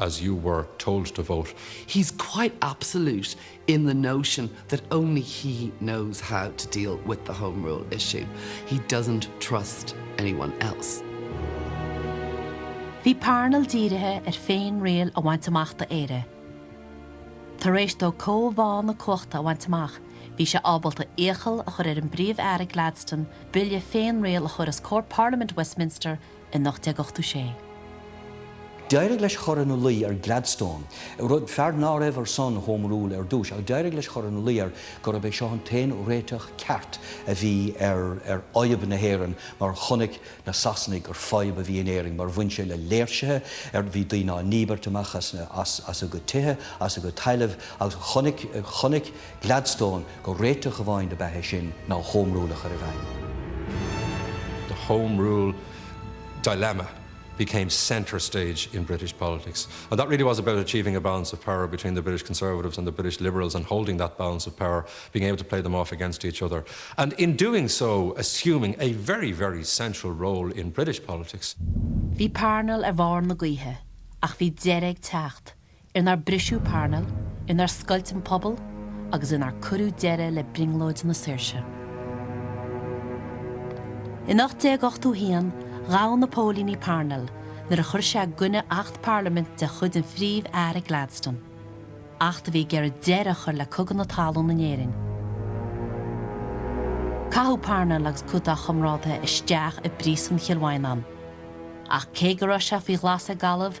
as you were told to vote. He's quite absolute in the notion that only he knows how to deal with the Home Rule issue. He doesn't trust anyone else. Bhí Parnell dírithe ar féin-riail a bhaint amach do Éire. Tar éis dó cóimheá na cumhachta a bhaint amach, bhí sé ábalta iachall a chur ar an bPríomh-Aire Gladstone bille féin-riail a chur os comhair Parlaimint Westminster in 1886. D'éirigh leis cur ina luí ar Gladstone, rud, fear ná raibh ar son Home Rule ar dtús, ach d'éirigh leis cur ina luí air gurb é seo an t-aon réiteach ceart a bhí ar fhadhb na hÉireann mar chonaic na Sasanaigh gur fadhb a bhí in Éirinn mar bhain sé le léirsithe ar bhí daoine á ndíbirt amach as a gcuid tithe, as a gcuid tailimh agus chonaic Gladstone gur réiteach amháin ab ea é sin ná Home Rule a chur i bhfeidhm. The Home Rule dilemma became centre stage in British politics and that really was about achieving a balance of power between the British Conservatives and the British Liberals and holding that balance of power, being able to play them off against each other and in doing so assuming a very, very central role in British politics. Bhí Parnell ar bharr na gaoithe, ach bhí deireadh ag teacht inar briseadh Parnell, inar scoilt an pobal agus inar cuireadh deireadh le brionglóid na saoirse. In 1881, ghabh na póilíní Parnell nuair a chuir sé i gcoinne Acht Parlaiminte de chuid an Phríomh-Aire Gladstone, acht a bhí ag iarraidh deireadh a chur le Cogadh na Talún in Éirinn. Caitheadh Parnell agus cuid dá chomrádaithe isteach i bPríosún Chill Mhaighneáin. Ach cé go raibh sé faoi ghlas ag Gallaibh,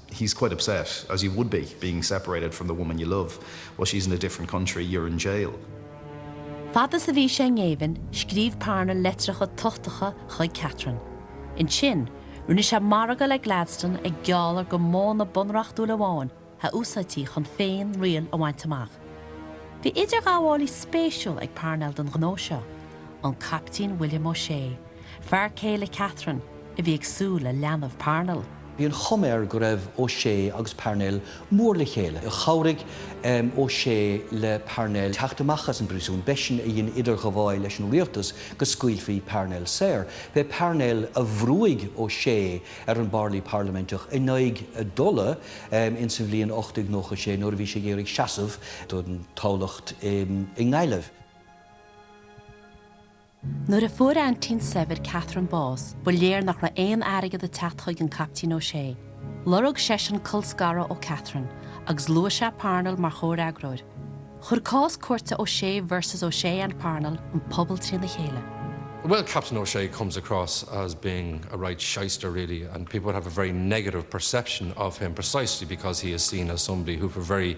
he's quite upset, as you would be, being separated from the woman you love while she's in a different country, you're in jail. Fad is a bhí sé i ngéibheann, scríobh Parnell leitreacha tochtacha chuig Katharine. Ansin, rinne sé margadh le Gladstone ag gealladh gur modhanna bunreachtúla amháin a úsáidfí chun féin-riail a bhaint amach. Bhí idirghabhálaí spéisiúil ag Parnell don ghnó seo, an Caiptín William O'Shea, fear céile Katharine, a bhí ag súil le leanbh Parnell. Bhí an chuma air go raibh O'Shea agus Parnell mór le chéile. Chabhraigh O'Shea le Parnell teacht amach as an bpríosún, b'eisean a dhein idirghabháil leis an rialtas go scaoilfí Parnell saor. B'é Parnell a bhrúigh O'Shea ar an bparlaí parlaiminteach in aghaidh a dtola ins an bhliain 1896 nuair a bhí sé ag iarraidh seasamh don toghlach i nGaillimh. Nuair a fuair aintín saibhir Katharine bás, ba léir nach raibh aon airgead ag teacht chuig an Caiptín O'Shea. Lorg seisean colscaradh ó Katharine, agus luaigh sé Parnell mar chomhfhreagróir. Chuir cás cúirte O'Shea versus O'Shea and Parnell an pobal trína chéile. Well, Captain O'Shea comes across as being a right shyster really and people would have a very negative perception of him precisely because he is seen as somebody who for very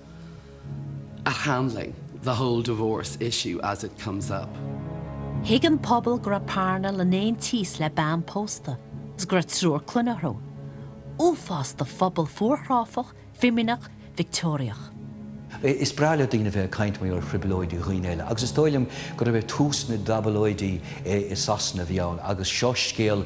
at handling the whole divorce issue as it comes up. Thuig an pobal go raibh Parnell in aontíos le bean pósta agus go raibh triúr clainne orthu. Uafás do phobal fuarchráifeach, fimíneach, Victeoiriach. Is breá le daoine a bheith ag caint mar gheall ar thrioblóidí dhaoine eile, agus is dóigh liom gurb é tús na dtáblóidí i Sasana a bhí ann, agus seo scéal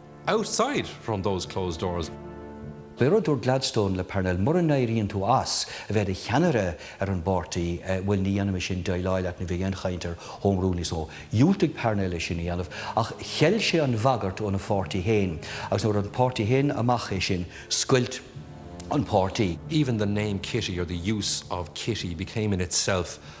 outside from those closed doors. B'é rud a dúirt Gladstone le Parnell, mura n-éiríonn tú as a bheith i do cheannaire ar an bpáirtí, bhuel, ní dhéanfaidh mise aon déileáil leat, ní bheidh aon chaint ar Home Rule níos mó. Dhiúltaigh Parnell é sin a dhéanamh, ach cheil sé an bhagairt óna pháirtí féin, agus nuair a fuair an páirtí féin amach é sin, scoilt an páirtí. Even the name Kitty, or the use of Kitty, became in itself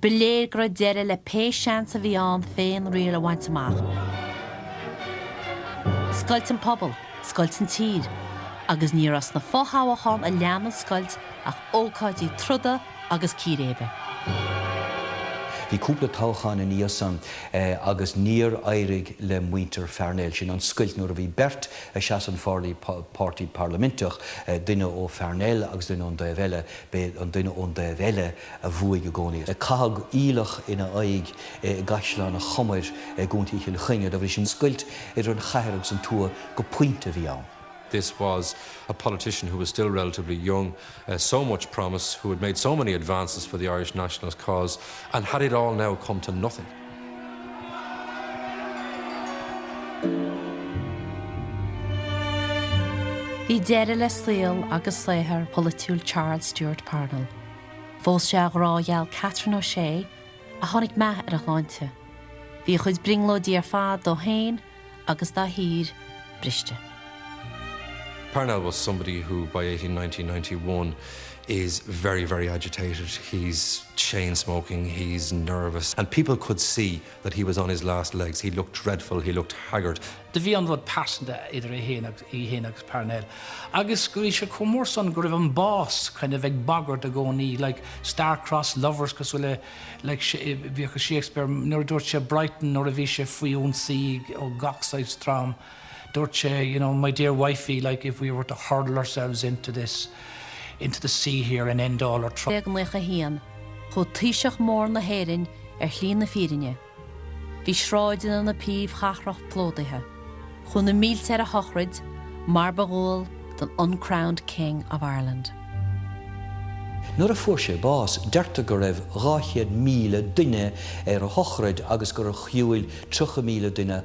Ba léir go raibh deireadh le pé seans a bhí ann féinriail a bhaint amach. Scoilt an pobal, scoilt an tír, agus ní raibh sna fothoghcháin a lean an scoilt ach ócáidí troda agus círéibe. Bhí cúpla toghchán ina dhiaidh san agus níor éirigh le muintir Pharnell, sin an scoilt nuair a bhí beirt ag seasamh an pharlaí, páirtí parlaiminteach, duine ó Pharnell agus duine ón dtaobh eile, b'é an duine ón dtaobh eile, a bhuaigh i gcónaí. Caitheadh aoileach ina aghaidh i gCaisleán an Chomair i gContae Chill Chainnigh, de bhrí sin scoilt idir an chathair agus an tuath go pointe a bhí ann. This was a politician who was still relatively young, so much promise, who had made so many advances for the Irish nationalist cause, and had it all now come to nothing? Bhí deireadh le saol agus saothar polaitiúil Charles Stewart Parnell Phós sé a ghrá gheal Katharine O'Shea, ach tháinig meath ar a shláinte. Bhí a chuid brionglóidí ar fad dó féin agus dá thír briste. Parnell was somebody who by 1890-91 is very, very agitated, he's chain-smoking, he's nervous and people could see. that he was on his last legs, he looked dreadful, he looked haggard. Do bhí an rud pearsanta idir í féin agus Parnell agus do bhí sé chomh mór san go raibh an bás kind of ag bagairt i gcónaí, like star-crossed lovers cosúil le, like, bhíodh i Shakespeare nuair a dúirt sé i Brighton nuair a bhí sé faoi ionsaí ó gach saghas dream. Dúirt sé, you know, my dear wifey, like, if we were to hurl ourselves into this, into the sea here and end all our troubles. 1891, chuaigh Taoiseach mór na hÉireann ar shlí na fírinne. Bhí sráideanna na príomhchathrach plódaithe. Chuaigh na mílte ar a shochraid, mar ba dhual don uncrowned King of Ireland. Nuair a fuair sé bás, deirtear go raibh 200,000 duine ar a shochraid agus gur shiúil 30,000 duine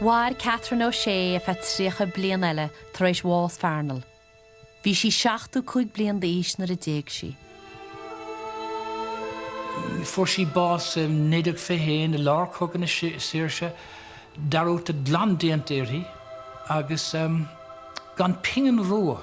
Mhair Katharine O'Shea ar feadh 30 bliain eile tar éis bhás Pharnell. Bhí sí 75 bliain d'aois nuair a d'éag sí. Fuair sí bás i 1921 i lár Chogadh na Saoirse, dearúd glan déanta uirthi agus gan pingin rua.